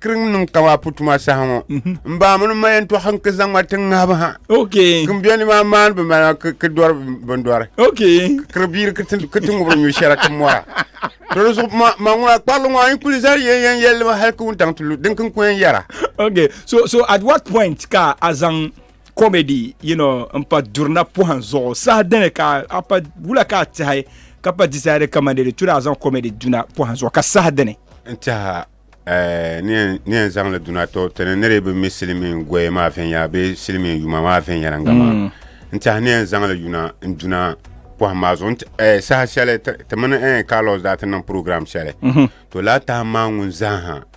kiriŋ niŋ ka maa pu tuma saha ŋɔ mhm. n baa mini ma yɛn tɔɣa n ki zaŋ ma tiŋ ŋahibu ha kin bɛ ni maa maani bi mali ki dɔri bin dɔri kiri biiri ki ti ŋubiri nyu shɛra ki mɔra dɔli zuɣu ma ma ŋuna kparili ŋɔ n kuli zali yɛn yɛn yɛli ma hali ki wuntaŋ ti lu din kin ku yɛn yɛra so so at what point ka a zaŋ comedy you know n pa durina pɔhim zuɣu saha dini ka a pa wula ka a tihi ka pa decide ka mande di tura a zaŋ comedy duna pɔhim zuɣu ka saha dini n tiha eh, ni yɛn zaŋli duna to tini ni di bi mi silimiin goya maa viɛnyɛla bee silimiin yuma maa viɛnyɛliŋga maa mm. n tiha ni yɛn zaŋli yuna n duna pɔhim maa zuɣu eh, saha shɛli ti mini eh, Carlos daa ti niŋ program shɛli mhm. to la tahi maa ŋun zaa ha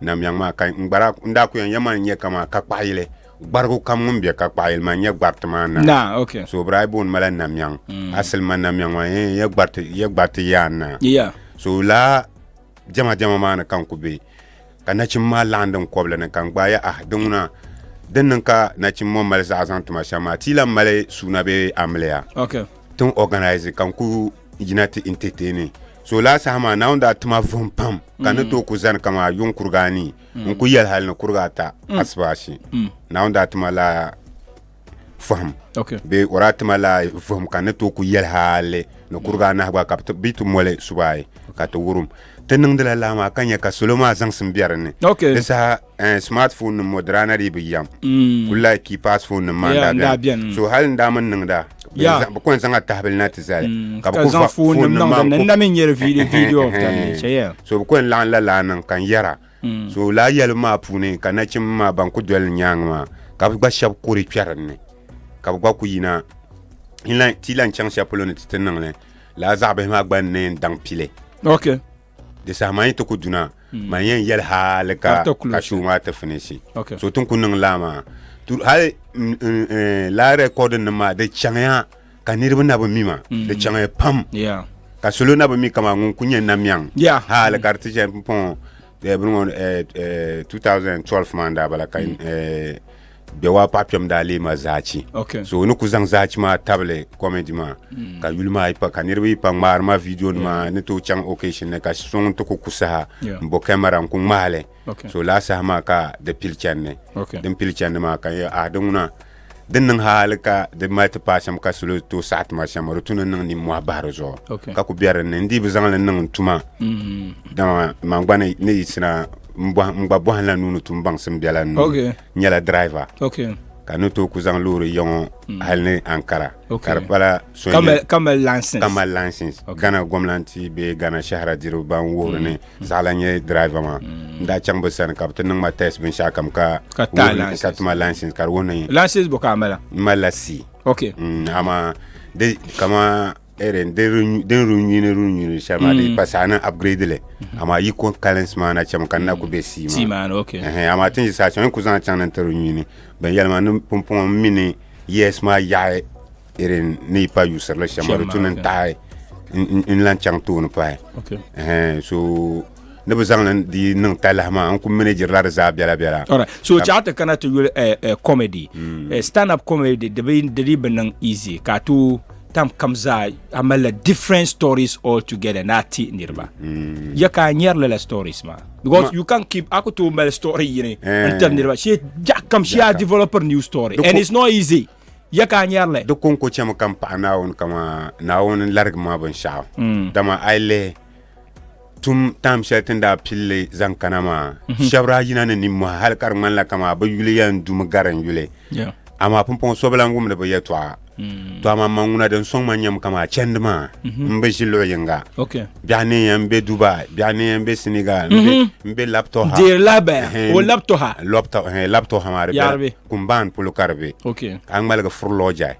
Namyaŋ maa ka n gbara n daa ku yɛn yɛma n nyɛ kamaa ka kpaɣa yili gbarigu kam ŋun bɛ ka kpaɣa yili maa n nyɛ gbariti maa naa Naa, okay. so bira booni mala Namyaŋ asili ma Namyaŋ maa yɛn n nyɛ gbariti yɛ gbariti yaan naa Yeah. so laa jɛma jɛma maa ni ka n ku bɛ ka nachimbi maa laɣam din kɔbili ni ka n gbaai ah di ŋuna din niŋ ka nachimbi ŋɔ mali zaɣa zaŋ tuma shɛm maa ti yi lan mali suuna bee amiliya Okay. tin organize ka n ku yina ti entertaini so laa saha maa Naawuni daa ti ma vuhim pam ka ni tooi ku zani kaman a yuŋ kuriga anii n ku yɛli hali ni kuriga ata asibaasi Naawuni daa ti ma laa fahim Okay. bee o daa ti ma laa vuhim ka ni tooi ku yɛli hali ni kuriga anahi gba ka bi ti- bi ti moli suba ayi ka ti wurim ti niŋdila laa maa ka nya ka salo maa zaŋsim be dinni Okay. di saha eh, smartphone nim ŋɔ dirana dii bi yam mm. kuli like keypass phone nim maa yeah, ndaa bɛni so hali n daa mini niŋda bi kɔn zaŋa tahibili na ti zali mm, ka bi kuli phone nim maa nna mi nyɛri video video of that nature so bi kɔn laɣin la laa niŋ ka n yɛra mm. so laa yɛli maa puuni ka nachim maa ban ku doli nyaanga maa ka bi gba shɛba kuri kpɛri ni ka bi gba ku yina ti lan chaŋ shɛli polo ni ti ti niŋli laa zaɣa bihi maa gba n ne n daŋ pili okay di saha maa yi ti ku duna mm. man yɛn yɛli hali ka ka shuu maa ti finisi so tin ku niŋ laa maa hali mm, mm, eh, laa rɛkɔdin nim maa di chaŋya ka niriba na bi mi ma di chaŋya pam ka salo na bi mi kama ŋun ku nyɛ namiɛŋ hali ka di ti chɛ pɔŋ eh, bini ŋɔ 2012 eh, maa n daa bala ka bɛ waa paɣa kpɛm daa lee ma zaachi okay. so ni ku zaŋ zaachi maa tabili comedy maa mm. ka yuli maa pa ka niriba yi pa ŋmaari ma video nima yeah. ni tooi chaŋ occasion ni ka so ŋun ti ku ku saha yeah. n bo camera n ku ŋmahili okay. so laa saha maa ka di pili chandi okay. din pili chandi maa ka ah di ŋuna din niŋ hali ka di mali ti paai shɛm ka salo tooi saɣa tuma shɛm di tuni niŋ nimmɔhi bahi di zuɣu okay. ka ku bɛ dinni n dii bi zaŋli niŋ n tuma mm. dama man gba ni yisina n gba bɔhila nuuni tum baŋsim biɛla nuu okay. nyɛla driver okay ka ni to ku zaŋ loori yɔŋɔ hmm. hali ni ankara ka di pala ka mali license ghana gɔmnanti bee ghana shahara diriba ban wuhiri ni hmm. zaɣala nyɛ driver maa hmm. n daa chaŋ bi sani ka bi ti niŋ ma test binshɛɣu kam ka ka tuma license ka di wuhi ni license bɔ ka a mala n malila c okay ama de kama irin din runyini runyini shɛli maa di mm. pa saɣa niŋ upgrade li mm-hmm. amaa yi ko kalins maa na chɛmi ka n na ku bɛ sii maa amaa tin yi saɣa chɛŋ n ku zaŋ chaŋ ni n ti runyini binyɛli maa ni pumpɔŋɔ n mi ni yes maa yaɣi irin ni yi pa yuusirili shɛm maa di tu ni n taɣi n lan chaŋ tooni pahi so ni bi zaŋ ni di niŋ talahi maa n ku minijiri la di zaa biɛla biɛla so chaɣa ti kana ti yuli eh, eh, comedy mm. eh, stand up comedy di di bi niŋ easy ka tu Tam kam zaa a malila different stories all together na ti niriba. Mm. Ya ka nyɛri lala stories ma. Because you can keep aku to mal story yini eh. n tam niriba. She ja kam she a developer new story and it's not easy. Ya ka nyɛri le. Di konko chɛmi kam paɣa naawuni kama naawuni larigi ma binshaɣu. Mm. Dama ai lihi tum tam shɛli tin daa pilli zaŋ kana maa shɛbi daa yina ni nimmɔhi hali ka di ŋmanila kamaa bi yuli yɛn dumi gari n yuli Yeah. amaa pumpɔŋ so bi lan wumdi bi yɛtɔɣa to amaa ma ŋuna din sɔŋ ma nyɛm kamaa chɛndi maa n bi ʒi luɣ yinga Okay. biɛɣu ni yɛn be dubai biɛɣu ni yɛn be senegal n be- n be laptop Dear Labaya, Ehem. o laptop ha. laptop laptop ha maa di Yaaribi. bela kumbaan polo ka di be Okay. ka a ŋmaligi furulɔɔ jai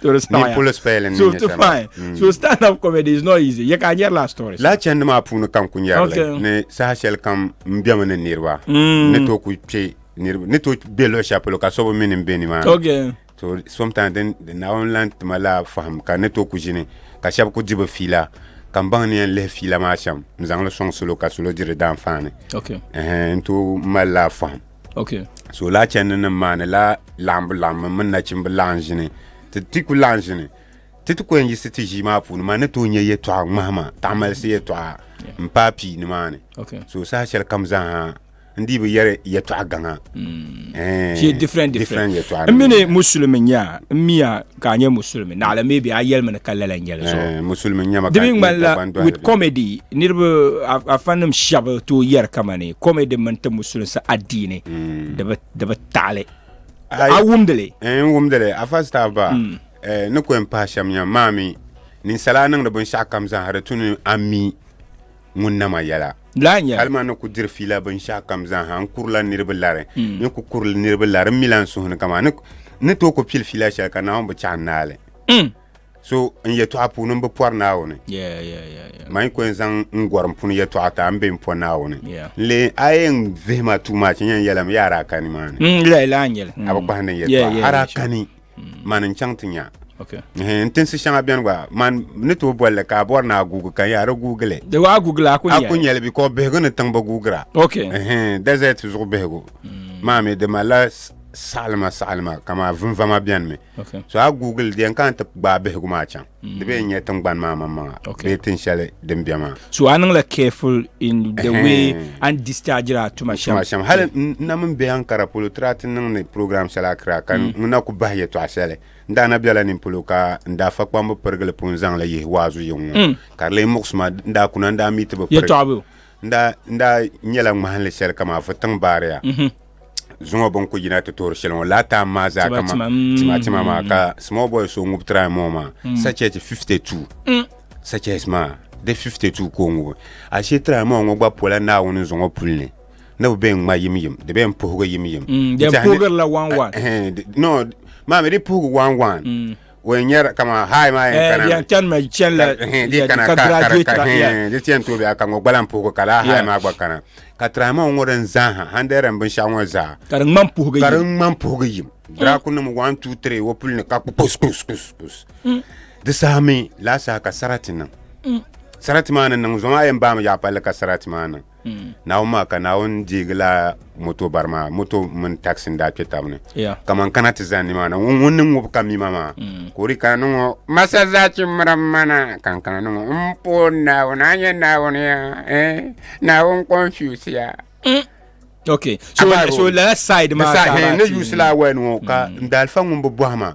to the style. Ni polo spell ni so to fine. Mm. So stand up comedy is not easy. Ye ka nyɛri la story. La chɛndi maa puuni kam ku nyɛri okay. li ni saha shɛli kam n bɛmi ni niriba mm. ni to ku kpe niriba ni to bɛ luɣi shɛli polo ka so bi mini n bɛ ni maa. Okay. So sometimes din naawuni lan tima la faham ka ni to ku ʒini ka shɛba ku di bi fiila ka n baŋ ni yɛn lihi fiila maa shɛm n zaŋ li sɔŋ salo ka salo diri daan faani. Okay. Uh -huh. N to mali la faham. Okay. So la chandi nim maa ni la laɣimbu laɣimbu mini nachimbu laɣim ʒini ti ti ku laɣim ʒini ti ti kɔyɛn yisi ti ʒii maa puuni maa ni tooi nyɛ yɛtɔɣa ŋmahima taɣimalisi yɛtɔɣa n paai pii ni maa ni Okay. so saha shɛli kam zaaha n dii bi yɛri yɛtɔɣa gaŋa Mm. Eh, Pie different different. different yɛtɔɣa N mini Muslim nya n miya ka a nyɛ musulimi naɣila maybe a yɛlimi ni ka lala nyɛli zuɣu eh, musulimi nyɛma di mi ŋmanila with comedy niriba afanim shɛba to yɛri kama ni comedy mini ti musulinsi adiini hmm. di bi taɣili a wumdili eh, n wumdili afa staff ba hmm. eh, ni kɔn pahi shɛm nyam maa mi ninsala niŋdi binshɛɣu kam zaŋ hali tu ni ami ŋun nama yɛla Hali maa ni ku diri fiila binshɛɣu kam zaaha n kurila niriba lari mm. ni ku kurili niriba lari n mila n suhu ni kama ni tooi ku pili fiila shɛli ka naawuni bi chaɣi naali mm. so n yɛtɔɣa puuni n bi pɔri naawuni man ku n zaŋ n gɔri n puni yɛtɔɣa ta n be n pɔ naawuni n lee a ye n vihima tuuma che nyɛn yɛlim yaara kani maa ni mm, a bi kpahindi n yɛtɔɣa ara kani man n chaŋ ti nya n tinsi shɛŋa bɛni gba man ni tooi bolli ka a bɔri ni a guugi ka yaa di guugili di waa guugila a ku nyɛli bi ko bihigu ni tiŋbi guugira desert zuɣu bihigu maa mi di malila saɣalima saɣalima kamaa vinvama bɛni mi so a guugili di yɛn kana ti gbaai bihigu maa chaŋ Mm. Di bee nyɛ tingbani maa maŋmaŋa okay. bee tin shɛli din bɛ maa. So a niŋla careful in the way and discharge a tuma shɛm. Tuma shɛm hali n na min bɛ Ankara polo tira ti niŋdi program shɛli Accra ka n mm. na ku bahi yɛtɔɣa shɛli n daa na bɛla nin polo ka n daa fa kpambu pirigili pun zaŋli yihi waazu yiŋ ŋɔ mm. ka di lee muɣisi ma n daa kuna n daa mi ti bi piri n daa nyɛla ŋmahinli shɛli ka maa fu tiŋ baariya. Mm-hmm. zuŋɔ bin ku yina ti toori shɛli ŋɔ laa time maa zaa Tima, kama tima, mm. tima tima maa ka small boy so ŋubi try moo maa sachet 52 sachet maa di 52 ka o ŋubi ashe try moo ŋɔ gba pola naawuni zuŋɔ puli ni ni bi bɛn ŋma yim yim di bɛn puhigi yim yim Mm, Di di tiɛhi ni- puhigirila one one. Eh, di- no maami di puhigi wan wan o yɛn nyɛri kama hayi maa yɛn kana yɛn chani ma chani la di kana ka graduate ka di tiɛn tooi bɛ ka ŋɔ gbala n puhigu ka laa hayi maa gba kana ka tirahi maa ŋɔ din zaa ha handi yɛrɛ n binshaɣu ŋɔ zaa ka di ŋmani puhigu ka di ŋmani puhigu yim draku nim one two three o puli ni ka kus kus kus kus di saha mi laa saha ka sarati niŋ sarati maa ni niŋ zuɣu maa yɛn baami yaɣa palli ka sarati maa niŋ hmm. naawuni maa ka naawuni deegila moto bari maa moto mini taxi n daa kpe tab ni kaman kana ti zani maa na ŋun ni ŋubi ka mima maa hmm. ka o di kana niŋɔ masa zachi miri mana ka n kana niŋɔ m puun naawuni a nyɛ naawuni ya eh, naawuni confuse ya hmm. okay so, so lala side maa ka ni yusi la awɛni ŋɔ ka n daalifa ŋun bi bɔhi maa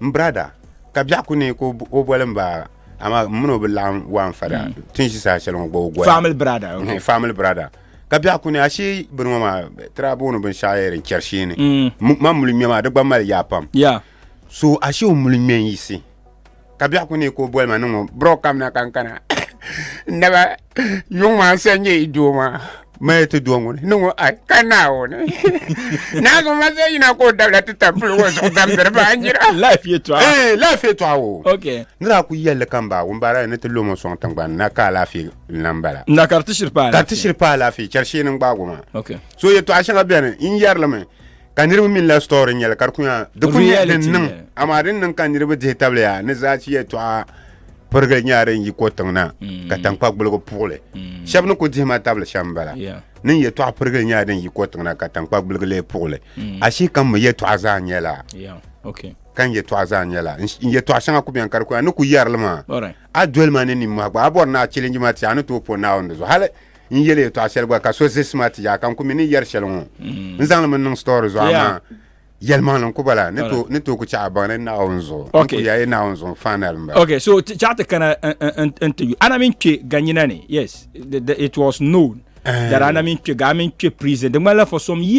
M brada ka biɛɣu ku neei ka o boli m ba amaa m mini o bi laɣim waan fada mm. ti ʒi saha shɛli ŋɔ gba o goya family brada okay. Mm, family brada ka biɛɣu ku ne ashee bini ŋɔ maa tira booni binshɛɣu yɛli n chɛri sheeni mm. ma muli ŋmɛ maa di gba mali yaa pam so ashee o muli ŋmɛ n yisi ka biɛɣu ku neei ka o boli ma niŋɔ bro kamina ka n kana naba yuŋ maa n san nyɛ i doo maa Maya ti do ŋuni ni ŋɔ ai ka naawuni naazɔ ma zai yina ka o dabila ti tam pili ŋɔ zuɣu damdiri ba nyira laafee tɔɣa wo nira a ku yɛlli ka m baa wumbaara ni ti lomo sɔŋ tiŋgbani na ka alaafee na m bala na ka di ti shiri pa alaafee chɛri shee ni n gbaago maa so yɛtɔɣa shɛŋa bɛni n yɛrilimi Ka niriba mi la story nyɛli ka di ku nya di ku nyɛ din niŋ amaa din niŋ ka niriba dihi tabliya ni zaachi yɛltɔɣa pirigili nyɛla din yi ko tiŋ na ka mm. tankpa gbuligu puɣili mm. shɛba ni ku dihima tabili shɛm bala ni n yɛltɔɣa pirigili nyɛla din yi ko tiŋ na ka tankpa gbuligu lee puɣili mm. ashii kam mi yɛltɔɣa zaa nyɛla ka n yɛltɔɣa zaa nyɛla n yɛltɔɣa shɛŋa ku bɛni ka di ku ni ku yɛrili maa a doli ma ni nimmɔhi gba a bɔri ni a chɛlinji ma ti a ni tooi po Naawuni di zuɣu hali n yeli yɛltɔɣa shɛli gba ka so zi sima ti yaaka n ku mi ni yɛri shɛli ŋɔ n zaŋli mi niŋ story zuɣu amaa yɛlimaŋli n ku bala ni to ni to ku chaɣa baŋ ni Naawuni zuɣu n Okay. ku ya ye Naawuni zuɣu final n bala. Okay, so t- chaɣa ti kana n- n- n- n ti yu. Ana min kpe ganyina ni. Yes, the, the, it was known that ana min kpe ga a min kpe prison. Di ŋmanila for some years.